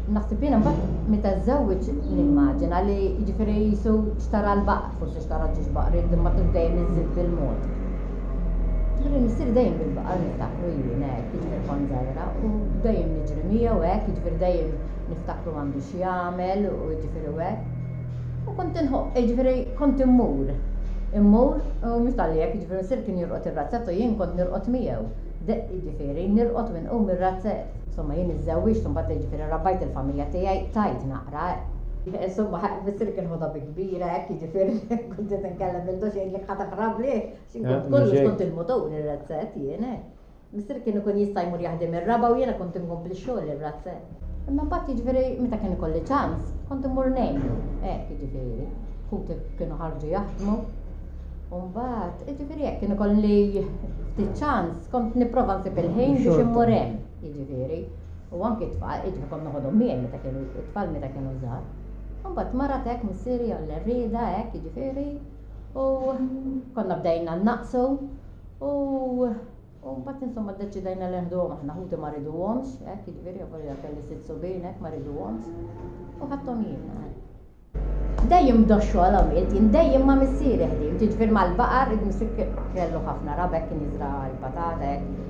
Naħseb jiena mbagħad meta żżewweġ nimmaġina li jiġifieri jisu xtara l-baqar, forsi xtara ġiex baqar, imma kif dejjem iżid bil-mod. Ġifieri missier dejjem bil-baqar niftakru jien hekk, jiġifieri kont żgħira u dejjem niġri miegħu hekk, jiġifieri dejjem niftakru m'għandux jagħmel u jiġifieri hekk. U kont inħobb, jiġifieri kont immur, immur, u mhux talli hekk, jiġifieri missier kien jirqod ir-razzett u jien kont nirqod miegħu. De, jiġifieri, nirqod u inqum mir-razzett. Insomma, jien iżżewwiġt u mbagħad, jiġifieri, rabbajt il-familja tiegħi, tajt naqra, eh. Insomma, missier kien ħodha bi kbira, hekk, jiġifieri, kont qed inkellem lil Doxx jgħidlek ħa taqrab lih, għax jien kont kollox, kont il-mutur, ir-razzett, jien, eh. Missier kien ikun jista' jmur jaħdem ir-raba' u jiena kont inkompli x-xogħol ir-razze. Imma mbagħad jiġifieri meta kien ikolli ċans, kont immur ngħinu. Hekk jiġifieri. Ħuti kienu ħarġu jaħdmu. U mbagħad, jiġifieri hekk kien ikolli ftit ċans, kont nipprova nsib il-ħin biex immur hemm, jiġifieri. U anki t-tfal, jiġifieri kont noħodhom miegħi meta kienu t-tfal meta kienu żgħar. U mbagħad marat hekk missieri għall-errieda hekk jiġifieri u konna bdejna nnaqsu U u mbagħad insomma ddeċidajna li neħduhom aħna ħuti ma riduhomx, hekk jiġifieri avolja kelli sitt subien hekk ma riduhomx u ħadthom jiena. Dejjem doxxu għal għamilt, jien dejjem ma' missieri ħdim, jiġifieri mal-baqar id-misik kellu ħafna rabek kien jiżra' l-patata hekk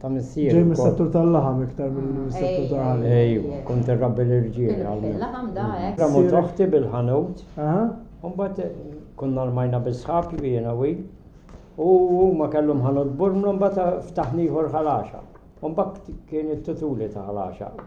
Ta' missier. Ġej mis-settur tal-laħam iktar milli mis-settur tal-ħalib. Ejwa, kont irrabbi l-irġiel hawnhekk. Il-laħam da hekk. Ramot oħti bil-ħanut. Aha. U mbagħad konna rmajna bis-sħab jiena u hi. U huma kellhom ħanut burmlu mbagħad ftaħna ieħor ħal għaxaq. U mbagħad kien it-tutuli ta' ħal għaxaq.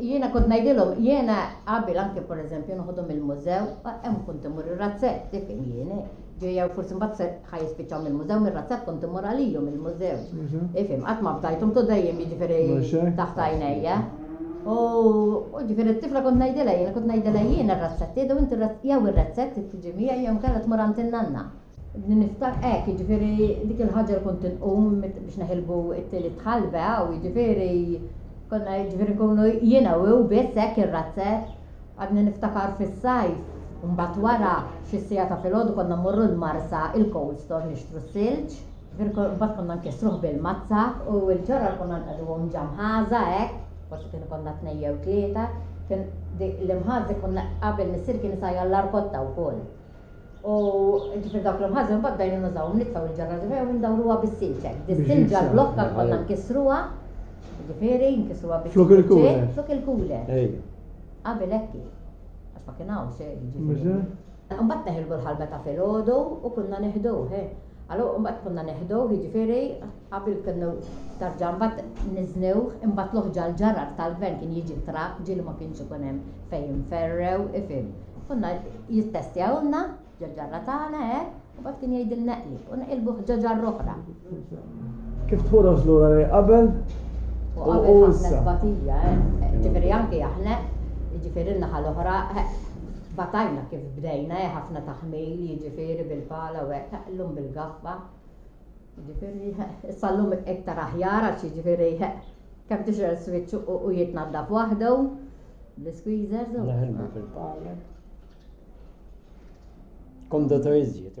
Jiena kont ngħidilhom jiena qabel anke pereżempju noħodhom il-mużew, hemm kont imur ir-razzett, tifhem jiena. Ġejja forsi mbagħad se ħajispiċċaw mill-mużew mir-razzett kont imur għalihom il-mużew. Ifhem, qatt ma fdajthom tu dejjem jiġifieri taħt għajnejja. U ġifieri t-tifla kont ngħidilha jiena kont ngħidilha jiena r-razzett, jew inti jew ir-razzett tiġi miegħi jew inkella tmur għand in-nanna. Niftakar, hekk, jiġifieri dik il-ħaġa li kont inqum biex neħilbu t-tielet tħalba hawn, jiġifieri konna jiġifieri nkunu jiena u hu biss hekk ir-razzett. Għadni niftakar fis-sajf, u mbagħad wara, xi siegħa ta' filgħodu konna mmorru l-marsa, il-cold store nixtru s-silġ, jiġifieri mbagħad konna nkissruh bil-mazza u l-ġorrod konna nqegħduhom ġa mħaża hekk, forsi kienu konna tnejn jew tlieta, kien dik l-imħaż dik konna qabel missieri kien isajjar l-arkotta wkoll. U ġifir dawk l-imħażna mbagħad bdajna nużawhom, nitfgħu l-ġarrad u jew indawruha bis-silġek. Dis-silġa l-blokka konna nkissruha, ġifieri nkissruha bi Flok il-kule. Flok il-kule. Qabel hekk hi. Għax ma kien hawn xejn, ġifieri. Mbagħad neħilbu l-ħalba ta' filgħodu u konna neħduh, eh. Allura mbagħad konna neħduh, jiġifieri qabel kienu tarġa mbagħad niżnewh, imbagħad l-oħġa l-ġarrar tal-gvern kien jiġi ttrapp, ġieli ma kienx ikun hemm fejn jinferrew, ifhim. Konna jittestjawlna ġo-ġarra tagħna hekk, u mbagħad kien jgħidilna eqlib u neqilbuh ġo ġarra oħra. Kif tħoros lura lejn qabel u issa? Qabel ħafna tbatija, eh. Ġifieri anke aħna, ġifieri n-naħa l-oħra, eh, Tbatajna kif bdejna eh ħafna taħmil jiġifieri bil-pala u hekk eh llum bil-gaffa jiġifieri eh issa llum iktar aħjar għax jiġifieri eh kemm tixgħel switch u jitnaddaf waħdu bl-squeezers u. Naħdmu fil-pala. Kondotor iżjed.